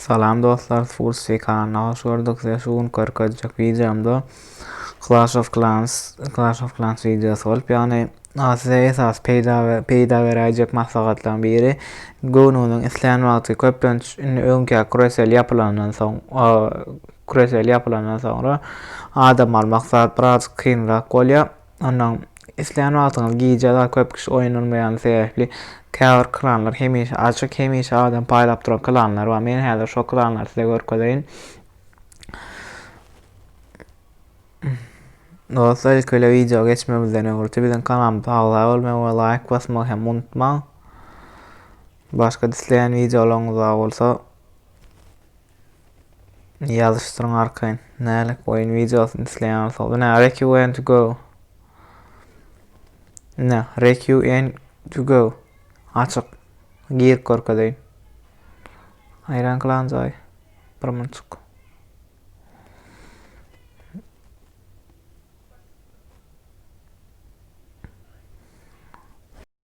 Salam dostlar Fursi kanalına hoş gördük size şu gün körkezjek videomda Clash of Clans Clash of Clans videosu bolup yani size esas peyda ve peyda verayjek maslahatlaryň biri göwnüňiziň isleyen wagty köplenç indi öňki küresel yapylandan soň küresel yapylandan soňra adam almak zat biraz kynrak bolýar Onnoň isleýän wagtyňyz gije zat köp kişi oýnalmaýany sebäpli käbir klanlar hemişe açyk, hemişe adam paýlap duran klanlar bar. Men häzir şo klanlary size görkezeýin. Dostlar ilki bile wideo geçmemizden öňürti biziň kanalymyza agza bolmagy we laýk basmagy hem unutmaň. Başga isleýän wideolaryňyz bar bolsa Ýazyşdyryň arkaýyn. Nälik oýun wideosyny isleýän bolsa. Bu ne? Rek you and to go. Ne? Rek you and to go. Açyk. Girip görkezeýin. Aýran klan joy. Bir munçuk.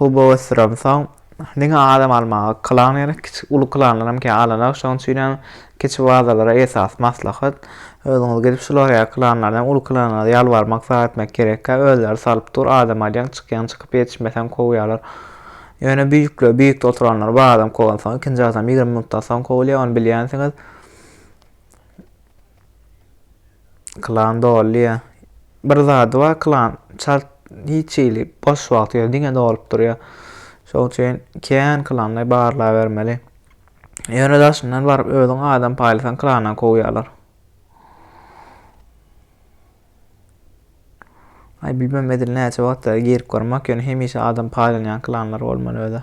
Hubo ösdürem. Soň diňe adam almaga klan gerek. Kiçi uly klanlaram kän alanak. Şonuň üçinem kiçi bazalara esasy maslahat. Özüňiz gidip şular ýaly klanlardan uly klanlara ýalbarmak zar etmek gerekkä. Özleri salyp dur. Adam alýaň, çykýaň, çykyp ýetişmeseň kowýarlar. Ýöne büýükler, büýükde oturanlar bar adam kowansoň ikinji adam ýigrimi minutdan soň kowulýar, ony bilýänsiňiz. Klan dolýa. Bir zady bar klan çalt hiç hili boş wagty ýok, diňe dolup durýar. Şoň üçin kän klanlary barlabermeli. Ýöne daşyndan baryp özüň adam paýlasaň klandan kowýarlar. Ay bilmem edil näçe wagtda girip görmek ýöne hemişe adam paýlanýan klanlar bolmaly öde.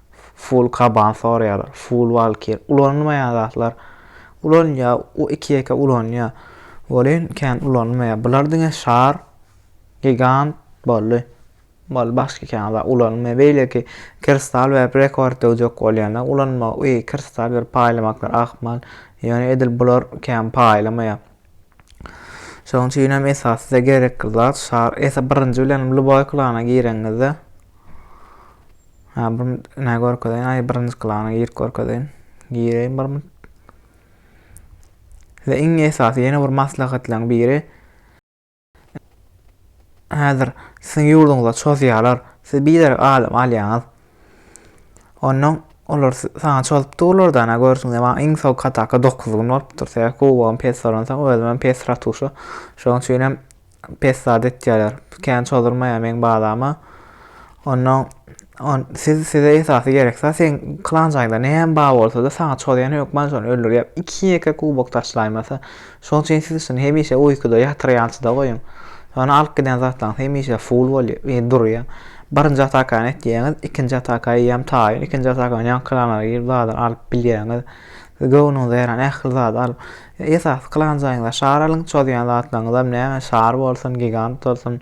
Full kaban sorýar, full walkir. Ulanylmaýan zatlar ulanylýar, o iki-ýeke ulanýar. Welin kän ulanylmaýar. Bular diňe şar, gigant boldy. Boldy başga kän zat ulanylmaýar. Beýleki kristal berip rekord döwjek bolýanda ulanmagy, uý kristal berip paýlamaklar ahmal. Ýöne edil bular kän paýlamaýar. Şonuň üçin hem esas size gerekli zat şar. Esa birinji bilen Luboy klana gireňizde. Ha, bir ne görkezeyin. Ay, birinci klana girip görkezeyin. Gireyin bir minut. Size iň esasy yeni bir maslahatlaryň biri. Häzir siziň ýurduňyza çozýarlar. Siz biderek adam alýaňyz. Ondan olar sana çozup durlardan ha görsün de maňa iň soň kataka 9 gün bolupdyr. Sebäbi kubogym pes soransa özüm hem pes ratuşa. Şonuň üçin hem pes zat etýärler. Kän çozulmaýar meň bazama. Ondan on siz size esasy gereksa sen klan jaýynda näme bar bolsada saňa çozýan hökman şony öldürýär. Iki ýeke kubok taşlaýmasa. Şoň üçin siz şuny hemişe uýkuda ýatyrýançyda goýuň. Şony alyp giden zatlaryňyz hemişe full bolýar, e, durýar. Birinji atakany etýäňiz, ikinji ataka eýýäm taýyn. Ikinji atakany ýaňky klanlara girip zadar alyp bilýäňiz. Siz göwnüňize ýaran ähli zady alyp, esasy klan jaýyňyza şar alyň, çozýan zatlaryňyzam näme şar bolsun, gigant bolsun.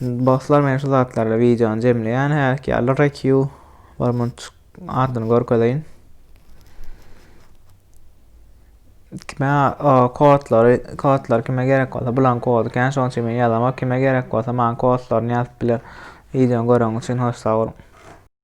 Dostlar men şu zatlarla videony jemleýän häki ýaly RQ bir munçuk ardyny görkezeýin. Kime kodlary, kodlar kime gerek bolsa bulan kodu kän şoň üçin men ýazamok. Kime gerek bolsa maňa kodlaryny ýazyp biler. Videony göreňiz üçin hoş sag boluň.